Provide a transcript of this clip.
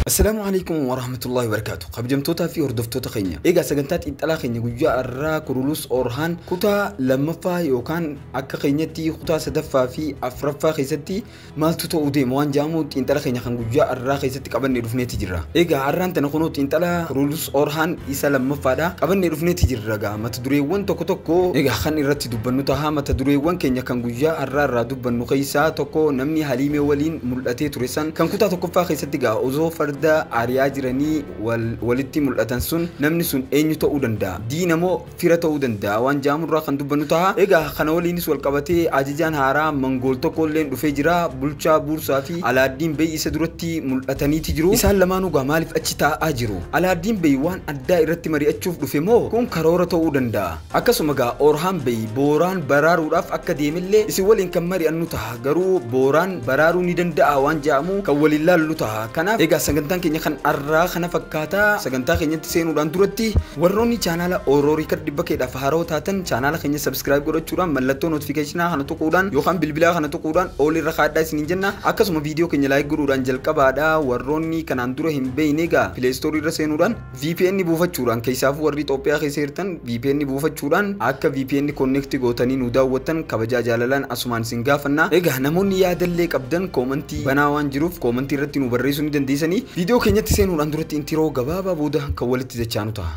Assalaamu alaikum wa rahmatullahi wa barakaatu. Kabajamtootaa fi hordoftoota keenya. Egaa sagantaa xiinxalaa keenya guyyaa har'aa Kurulus Orhaan kutaa lammaffaa yookaan akka keenyatti kutaa sadaffaa fi afraffaa keessatti maaltu ta'uu deema waan jedhamu xiinxala keenya kan guyyaa har'aa keessatti qabannee dhufneeti jirra. Egaa har'aan tana kunoo xiinxala Kurulus Orhaan isa lammaffaadha. Qabannee dhufneeti jirra egaa mata dureewwan tokko tokko egaa kan irratti itti dubbannu taha. Mata dureewwan keenya kan guyyaa arraa irraa dubbannu keessaa tokko namni Haliimee waliin mul'atee ture san kan kutaa tokkoffaa keessatti gaa osoo farda ariyaa jiranii wal walitti mul'atan sun namni sun eenyu ta'uu danda'a? Diina moo fira ta'uu danda'a waan ja'amu irraa kan dubbannu taha. Egaa kana waliinis wal qabatee ajajaan haaraa Mangool tokko illeen dhufee jira. Bulchaa Buursaa fi Alaaddiin Bey isa duratti mul'ataniiti jiru. Isaan lamaanuu gaa maaliif achi taa'aa jiru? Alaaddiin Bey waan addaa irratti mari'achuuf dhufe moo kun karoora ta'uu danda'a? Akkasuma egaa Oorhaan Bey Booraan baraaruudhaaf akka deemellee isin waliin kan mari'annu taha. Garuu Booraan baraaruu ni danda'aa waan jedhamu kan waliin laallu taha. Kanaaf egaa sagantaan keenya kan arraa kana fakkaata. Sagantaa keenyatti seenuudhaan duratti warroonni chaanaala Oro Record dhibba keedhaaf haarawa taatan chaanaala keenya subscribe godhachuudhaan mallattoo notification kana tuquudhaan yookaan bilbilaa kana tuquudhaan all irra kaadhaa isiniin jenna. Akkasuma viidiyoo keenya like godhuudhaan jalqabaadha. Warroonni kanaan dura hin beeyne egaa Play Store irra seenuudhaan Vpn buufachuudhaan keessaafuu warri Itoophiyaa keessa jirtan vpn buufachuudhaan akka vpn connect gootanii nu daawwattan kabajaa jaalalaan asumaan isin gaafanna. Egaa namoonni yaadallee qabdan koomantii banaa waan jiruuf koomantii irratti nu barreessuu ni dandeessanii. Viidiyoo keenyatti seenuudhaan duratti intiroo gabaabaa booda kan walitti dachaanu taha.